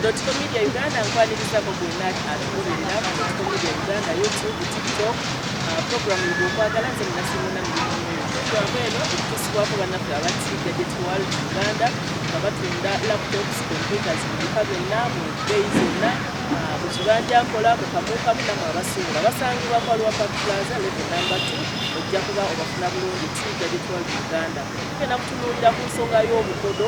Dotiko Media Uganda nkwaniriza mu bwonna atugoberera ku Dotiko Media Uganda YouTube, TikTok, uh, programu yo bwokwagala nze munasimuuna mu programu eno okutusibwako bannaffe abati Gadget World Uganda nga batunda laptops, computers mu bika byonna mu bbeeyi zonna uh, mu kibanja nkola mu kamuukamu namwe abasuubula basangibwa kwa Lwa Park Plaza level number 2 ojja kuba obafuna bulungi ti Gadget World Uganda tugenda kutunuulira ku nsonga y'obukodo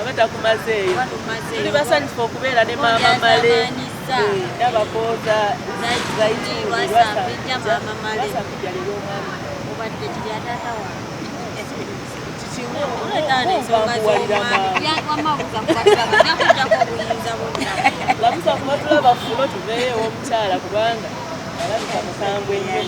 oba takumazeeyo tuli basanyufu okubeera ne maama male nabakooza lamusa kuba tulaba fulo tuveeyo omukyala kubanga alabika mukambwe nnyo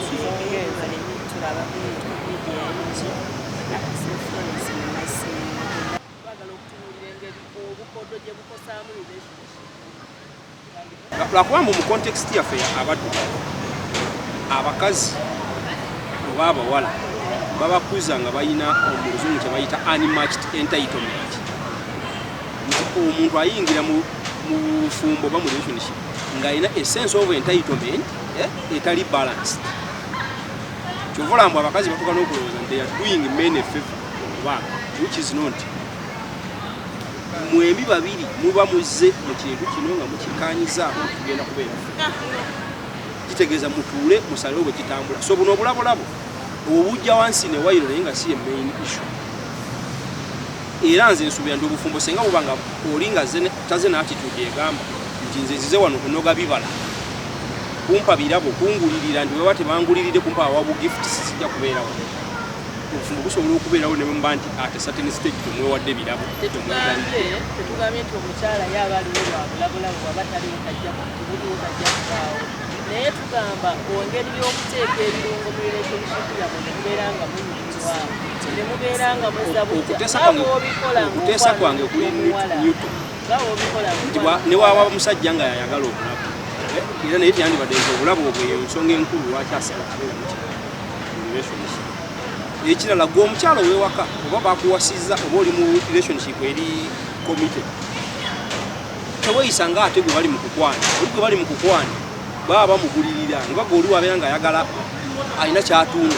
lwakuba mbu mu context yaffe abaddugavu abakazi oba abawala babakuza nga balina omuluzungu kyebayita unmatched entitlement nti omuntu ayingira mu bufumbo oba mu relationship ng'alina esense of entitlement eh, etali balanced kyova olambu abakazi batuka nokulowooza nti are doing men a favor okubaga which is not mwembi babiri muba muzze mu kintu kino nga mukikanyizaako kugenda kubeera kitegeeza mutuule musalewo bwe kitambula so buno obulabolabo obujja wansi ne wayiro naye nga si ye main issue era nze nsubira nti obufumbo senga buba nga oli nga taze n'atitude egamba nti nze nzize wano kunoga bibala kumpa birabo kungulirira nti weba tebanguliride kumpa awabu gifts sijja kubeerawo obufumbo busobola okubeerawo ne bwemba nti ate certain stage temwewadde birabo tetugambye tetugambye nti omukyala ye aba aliwo lwabulabulabu aba taliwo tajja kubuliwo tajja kubaawo naye tugamba ongeri y'okuteeka ebirungo mu relationship yabwe nekubeera nga munyuma okuteesa kwange kuli newton nti newaaba omusajja nga yayagala obulabu eh, era naye tyandibadde nti obulabu obwo eyo ensonga enkulu lwaki asala abeera mukirelationship ekirala gwe omukyalo wewaka oba bakuwasizza oba oli mu relationship eri committed teweyisa nga ate gwe bali mu kukwana oli gwe bali mu kukwana baba bamugulirira nga gwe oli wabeera nga ayagala alina kyatunda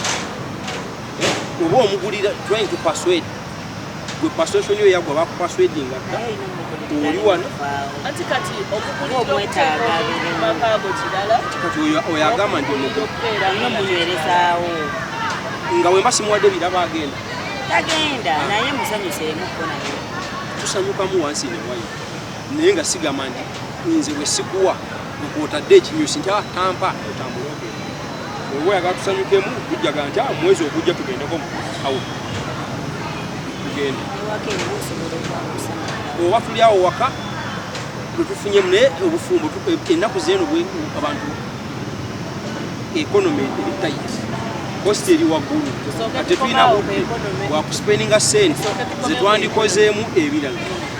eh, oba omugulira trying to persuade gwe persuasion yo yagwa bakupersuadinga dda oli wano kati oyagamba nti omuguliamunywerezaawo nga wemba simuwadde biraba agenda tagenda naye musanyuseemuko naye tusanyukamu wansi newayo naye nga sigamba nti nze bwe sikuwa kwotadde ekinyusi nti ah, tampa otambula ogenda oba oyagala tusanyukemu tujjaga nti ah, mwezi ogujja tugendeko awo tugende oba tuli awo waka lwetufunyemu naye obufumbo e, ennaku zeeno abantu economy eri tight kosti eri waggulu ate tulina wakuspeninga sente zetwandikozeemu ebirala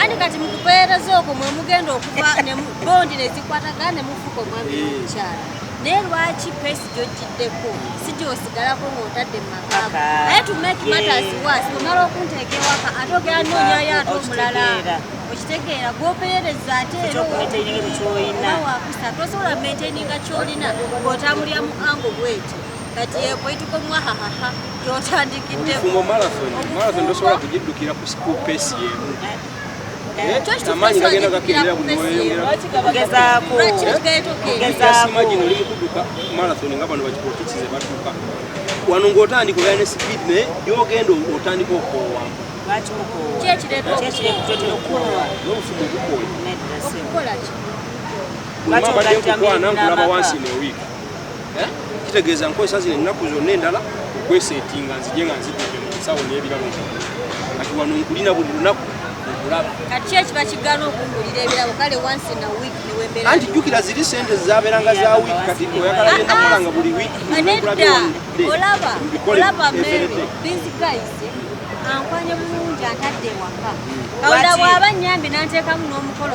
ani kati mukuperereza okwo mwemugenda okuva bondi nezikwatagana nemufuka omwami nomukyala naye lwaki pesi gyojjiddeko si gyosigalako ngaotadde mumakago aye to make matters was omala okunteeka ewaka ate ogera noonyayo ate omulala okitegeera gwoperereza ate erowakusa tosobola maintaininga kyolina ngaotambulira mu ango bwekyo kati yekwaituka omwahahaha gyotandikiddeobufumo marathon marathon tosobola kugiddukira ku school pace yemu amaanyi gagenda gakendera buli mweyongeraimagine oli mukuduka marathon nga bano bakipolotiki ze batuka wano ng'otandika obeera ne speed naye gyogenda otandika okoowa n'obufumu obukooya buli mabadde nkukwana nkulaba wansi in a week eh? kitegeeza nkozesa zino ennaku zonna endala okweseetinga nzije nga nzidde mu nsawo n'ebirabo kati wano nkulina buli lunaku anti jjukira ziri sente zabeeranga za wiiki kati oyagala genda kola nga buli wiikibikolebinzikaise ankwanye bulungi antadde ewaka kawula bwaba nyambi nanteekamu n'omukolo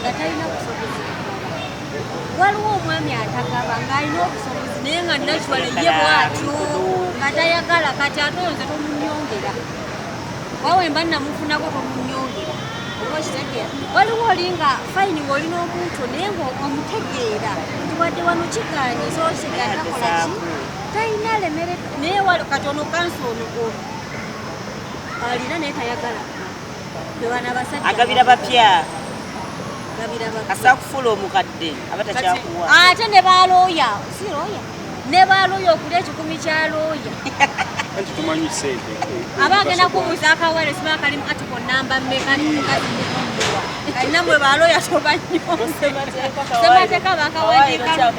nga talina busobozi waliwo omwami atagaba ng'alina obusobozi naye nga nakiwale ye bwatyo nga tayagala kati ate oyo nze tomunyongera wawe mba namufunako tomunyongera oba okitegeera waliwo oli nga fayini ng'oli n'omuntu naye ngaomutegeera nti wadde wano kigaanyi so kigaanyi akola ki talina lemere naye wali kati ono kansi ono alina naye tayagala agabira bapya asakufuula omukadde aba takyakuwa ate ne balooya si looya ne balooya okuli ekikumi kya looya aba agenda kubuuza akawere sima kalimu ati ku namba mmeka alina mwe balooya tobanyosemateeka bakawandiika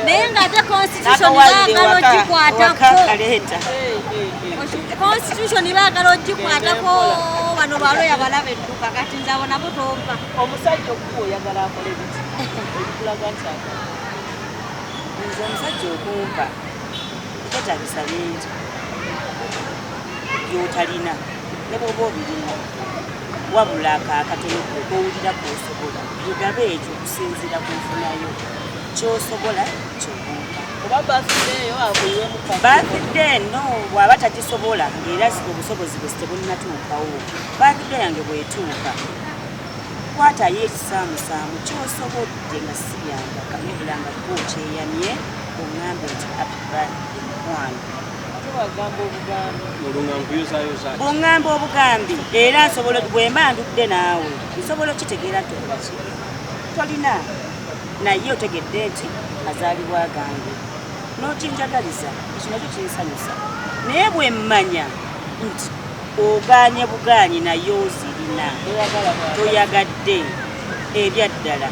naye ng'ate constitution baagala ogikwatako constitution baagala ogikwatako bano balo yabalaba edduka kati nze abo nabo tompa omusajja okuba oyagala akole biti ebikulaga nti nze omusajja okumpa tetagisa bingi byotalina ne bwoba obirina wabula akakatono kowulira kwosobola mugabe ekyo okusinziira ku nfunayo kyosobola bathide no bwaba takisobola ngaera obusobozi bwesi tebulinatuukawo bathide yange bwetuuka kwatayo ekisaamusaamu kyosobodde nga sibyambaka nebula nga ko kyeyamye ongambe nti apibamukwano bungamba obugambi era nsobola bwemba ndudde naawe nsobola okitegeera nti tolina naye otegedde nti mazaalibwa gange n'okinjagaliza ekyo nakyo kinsanyusa naye bwe mmanya nti ogaanye bugaanyi naye ozirina toyagadde ebyaddala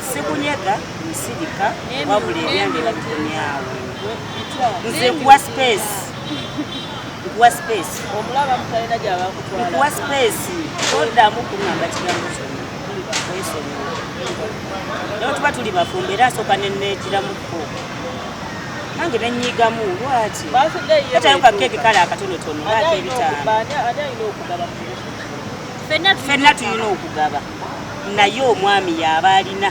sikunyega nsirika wabula ebyange babikomyawo nze nkuwa space nkuwa space nkuwa space toddamu kungamba kigambo kyona tuli bakwesonyiwa naye tuba tuli bafumbo era asooka nenneegiramukko nange nenyiigamu lwaki katayo ka keeki kale akatonotono lwaki ebitaano fenna tulina okugaba naye omwami yaaba alina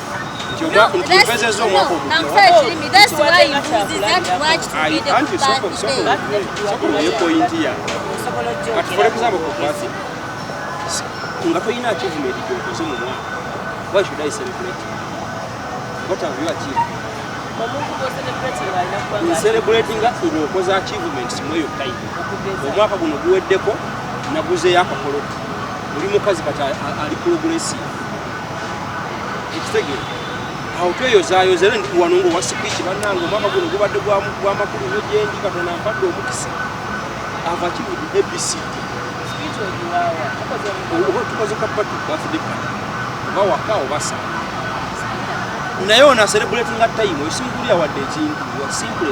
nga tolina achievement gyokoze mu mwaka why should i celebrate what have you achieved celebrating ng'okoze achievements mweyo kayi omwaka guno guweddeko naguzeyo akakoloto oli mukazi kati ali progressive ekitegere awo tweyozayoza era ndi wano ngaowa sipiiki bannange omwaka guno gubadde gwamakulu nyo gyendi katonda mpadde omukisa ava kibudi abc oba tukoze kapatu bafudde kati oba waka oba saa naye ona serebulatinga tayimu osinkulira wadde ekintu wasimple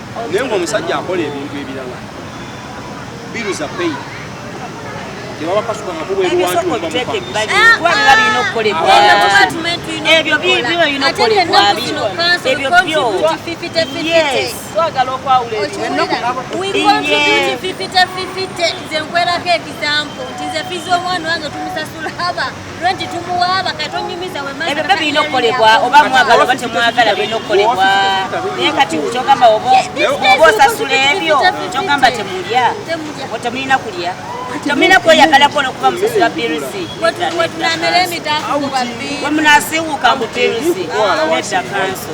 naye ngaomusajja akola ebintu ebirala biru za pay nze nkwerako ekisampo nti nze fiza omwana wange tumusasula haba ebyo byo birina okukolebwa oba mwagala oba temwagala birina okukolebwa naye kati kyogamba oba osasula ebyo kyogamba temulya temulina kulya temulina kweyagalako nokuba musasula birisi wemunasiwuka mu birisi nedda kanso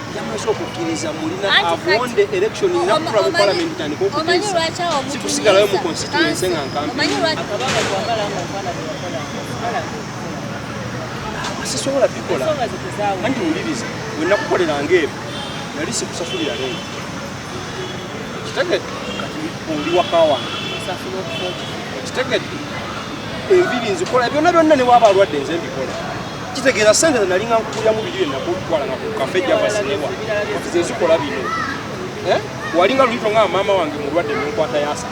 yamaze okukkiriza mulina avonde election nakukula mu palamenti tandika okuteesa sikusigalayo mu constituense nga nkampiasisobola bikola anti wuliriza wenakukoleranga ebyo nali sikusasulira leero kitegedde kati oli waka wange kitegedde enviri nzikola byonna byonna newaba alwadde nze mbikola kitegeeza sente zenali nga nkukulyamu biri byenakutwala nga ku kafe javazinewa kati zezikola bino eh? walinga lulito nga maama wange mulwadde nenkwata yasa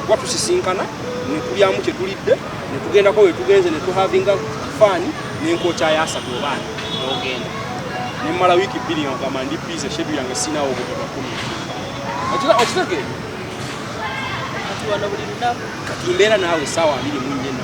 kuba tusisinkana nekulyamu kyetulidde netugendako wetugenze netuhavinga faani nenkokya yasa kubaana nogenda nemmala wiiki bbiri nga kugamba ndi bize shedu yange sinawo obugabakumi okitege kati mbeera naawe esaawa abiri munyena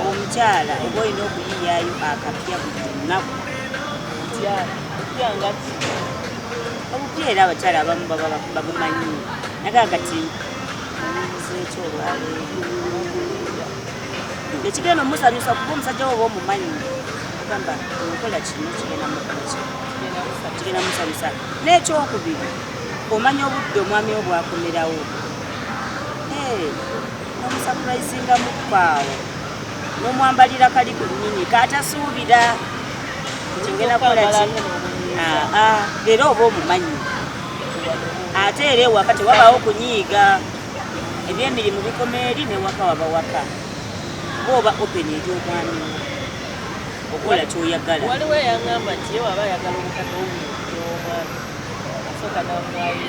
Omukyala oba olina okuyiyayo akapya buli lunaku. Omukyala okupya nga ki? Obupya era abakyala abamu baba babumanyi naga kati omubuuza ekyo olwaleero ekigenda omusanyusa kuba omusajja woba omumanyi ogamba nkola kino kigenda mukola kino kigenda musanyusa n'ekyokubiri omanya obudde omwami wo bwakomerawo nomusapurayizinga mukwaawo nomwambalira kali ku nyini katasuubira nti ngenda kukola ki ah, ah, era oba omumanyi ate era ewaka tewabaawo kunyiiga ebyemirimu bikoma eri newaka wabawaka oba oba open eri omwami okola kyoyagala waliwo eyagamba nti ye waba ayagala omukadde omwami asooka namwayo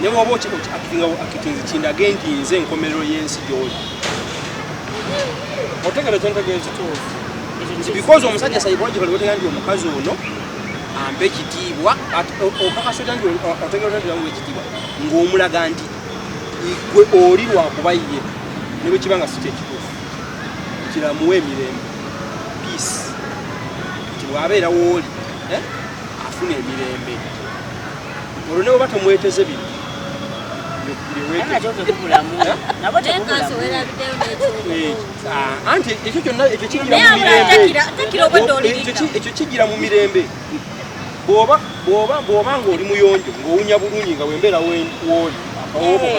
ne bwoba okiakitinga akitinzi kindage nti nze enkomerero y'ensi gyoli otegera kyentegeeza nti because omusajja psychologically wotega nti omukazi ono ampa ekitiibwa okakasota nti otegera nti amuwa ekitiibwa ng'omulaga nti gwe oli lwakuba ye ne bwe kiba nga si kyekituufu kiramuwa emirembe peace nti bw'abeera wooli eh? afuna emirembe olwo newoba tomweteze bino anti ekyo kyonna ekyo kigira mu mirembe bwoba bwoba bwoba ng'oli muyonjo ng'owunya bulungi nga wembeera wooli owoboka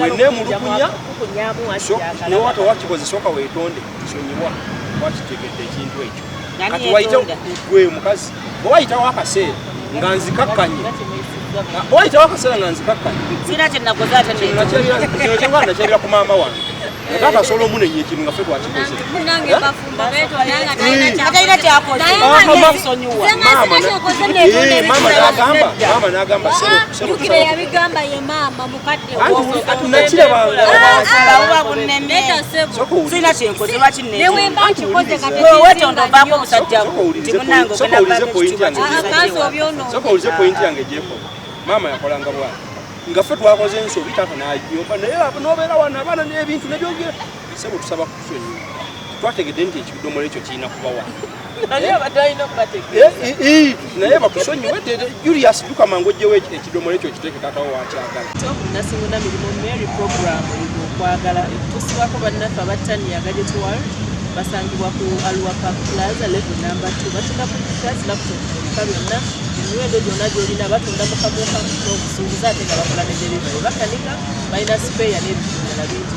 wenemulugunya newata wakikoze soka wetonde sonyiwa wakitegedde ekintu ekyo kati wayite gwe mukazi owayitawo akaseera nga nzikakkanye owayitawo akaseera nga nzikakkanyekyenakyabira ku maama wange atakasolo omunenya ekintu nga fe twakikoze maama nagamba maama yakolanga bwana nga ffe twakoze ensobi taata nayomba naye nobeera wana abaana n'ebintu nebyogera sebo tusaba kutusonyiwa twategedde nti ekidomolo ekyo kirina kubawa naye bakusonyiwe julius duka mangu ojjewo ekidomola ekyo kiteeke tatawo wakyagala nasimuna mirimu mary program okwagala tusibako bannaffe abattaniyaga gyetuwal basangibwa ku aluwa park plaza level number t batunda kukikyasi laptop ebika byonna emiwendo gyonna gyolina batunda mukamuukamu n'okusuubuza ate nga bakola ne delivery bakanika balina sipeeya n'ebintu bingi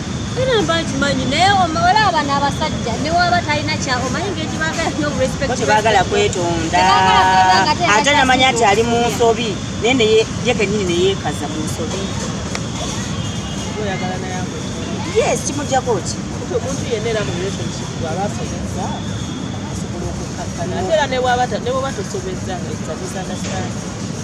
Era mba nkimanyi naye olaba abana abasajja ne waba talina kya omanyi ng'ekyo baagala nyo respect tebaagala kwetonda ate namanya nti ali mu nsobi naye ne ye kenyini ne yeekaza mu nsobi yes kimujjako ki omuntu yenna era mu relationship bwaba asobezza asobola okukkakkana ate era ne bwaba tosobezza nga ekitagisa na sitaani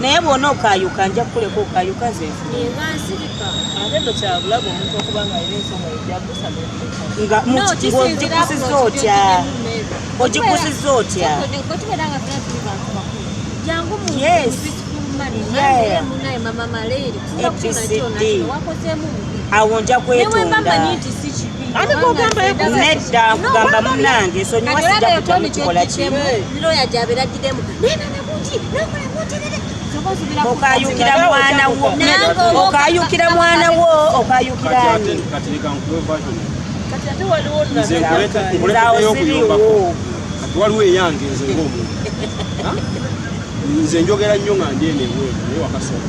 naye bwona okayuka nja kukuleka okayuka zeogikusiza otya ogikusiza otya awo nja kwetonda ani kogamba nedda kugamba munange sonyiwa sijja kutya mukikola kimu okayukira mwana wo okayukira mwana wo okayukira ani waliwo eyange nze ngaomuntu nze njogera nnyo nga ndi eno ebweru naye wakasoma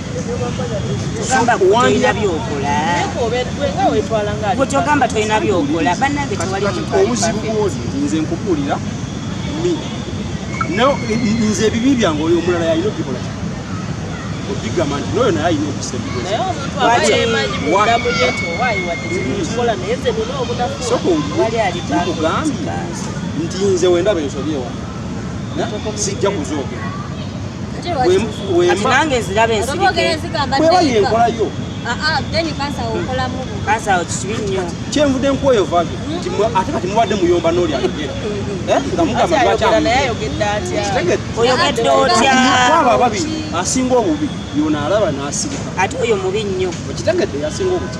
kyogamba tolina byokola banange nze nkubuulira nze ebibi byange oyo omulala yalina okubikola okigamba nti noyo naye alina okusebisoka nti nze wendaba ensobi ewa sijja kuzoogera nange nziraba ensirikebweba yenkolayo kyenvude nkwoyo vage ate kati mubadde muyomba noli ayogera nga mugamba lwakyayogedde otyaabo ababiri asinga obubi yona alaba nasirika ate oyo mubi nnyo okitegedde yasinga obuti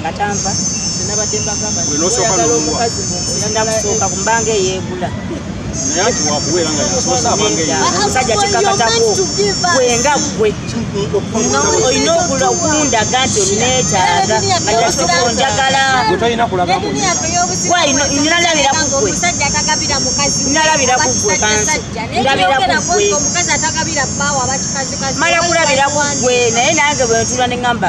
nga tanva nabadde mbagamba oyagala omukazi ngenda kusooka ku mbanga eyeegula omusajja kikakatako gwenga gwe olina okula okundaga nti oneetaaga ajasokonjagala nalabira kugwe nalabira kugwe kansi ndabira kugwe mala kulabira kugwe naye nange bwentula ne ŋamba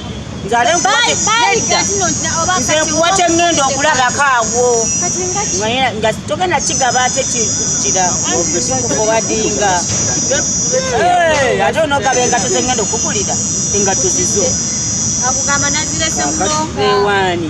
nzale nze nkuwa kyengenda okulabako awo nga togenda kigaba ate kira kikubadinga ate onogaba engato zengenda okugulira engato zizo akugamba nazirese muloka ewani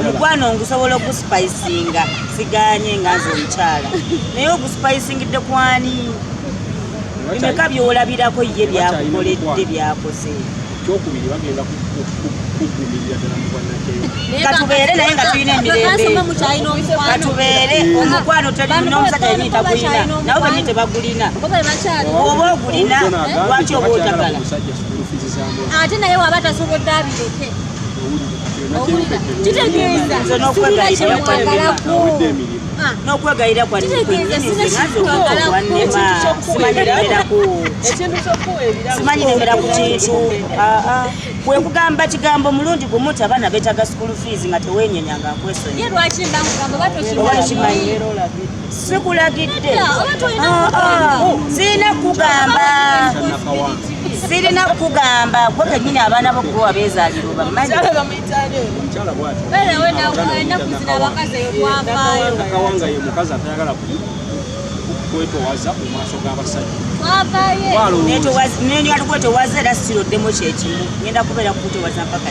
omukwano ngusobola ogusipayisinga siganye nga nze omukyala naye ogusipayisingitte kwani emeka byolabirako ye byakukoledde byakoze kyokubiri bagenda kugumirira ddala mu bwannakeyo katubeere naye nga tulina emirembekatubeere eh. omukwano nomusajja yenii tagulina nabo benii tebagulina oba ogulina lwaki oba otagala ate naye waba tasobodde abireke kitegeeza sirina kyemwagalako n'okwegayira kwansimanyi nemera ku kintu kwe kugamba kigambo mulundi gumu ti abaana beetaga school fees nga tewenyenya nga nkwesonyiwa sikulagidde ah, ah. sirina kukugamba sirina kukugamba gwe kenyini abaana bo gwe wabeezalira obamanyi kwetowaza mu maaso g'abasajja netowaza era siroddemu kyekimu ngenda kubeera kukutowaza mpaka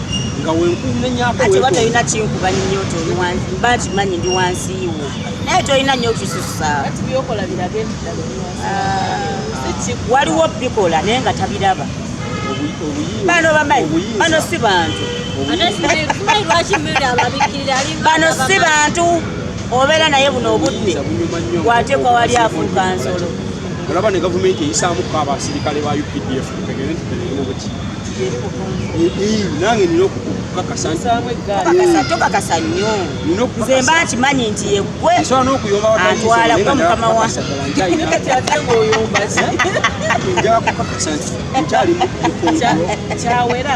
nga wenkunenyako ate oba tolina kinkuba nnyo toliwansi mba kimanyi ndi wansi wo naye tolina nnyo okisusa waliwo bikola naye nga tabiraba bano bamanyi bano si bantu bano si bantu obeera naye buno obudde wateekwa wali afuuka nsolo olaba ne gavumenti eyisaamuko abasirikale ba updf nange nina okukakasatokakasa nnyo nze mba nkimanyi nti yegwe antwala gwe mukama wakyawera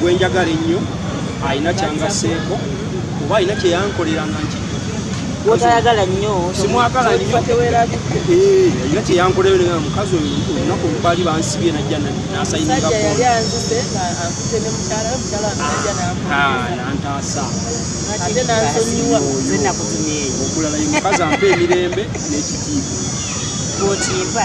gwenjagala ennyo alina kyangaseeko oba alina kyeyankolera nga nki gwotayagala nnyo simwagala nnyo eh, alina kyeyankolera mukazi oyo olunaku olubaali bansibye najja nasayiningako nantaasa okulala ye mukazi ampa emirembe n'ekitiibwa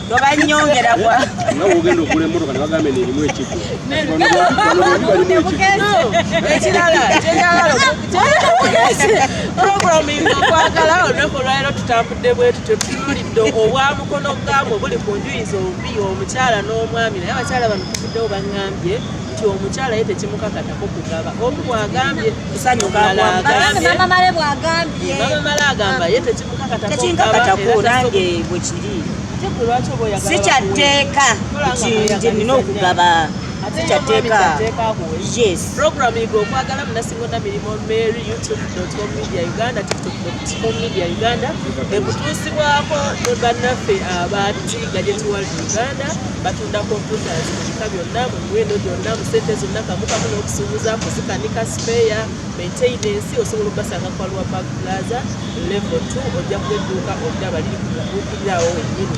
twagala olunaku olwaliro tutambudde bwe tutyo tutuulidde obwa mukono gaabwe buli ku njuyi zombi omukyala n'omwami naye abakyala bano tuvuddewo bangambye nti omukyala ye tekimukakatako kugaba omu bwagambye kusanyuka agambye mama male agamba ye tekinkakatako nange bwe kiri sikyatteeka nti nti nina okugaba sikyatteeka yes program igo okwagala munasingonda mirimu mary youtube.com media uganda tiktok.com media uganda ekutuusibwako bannaffe abatiga gyetuwali uganda batunda computers mu bika byonna mu miwendo gyonna mu sente zonna kamukamu n'okusuubuza kuzikanika sipeya maintenance osobola okubasanga ku aluwa park plaza level 2 ojja kuba edduuka oddaba liri ku mubuukirira awo wennyini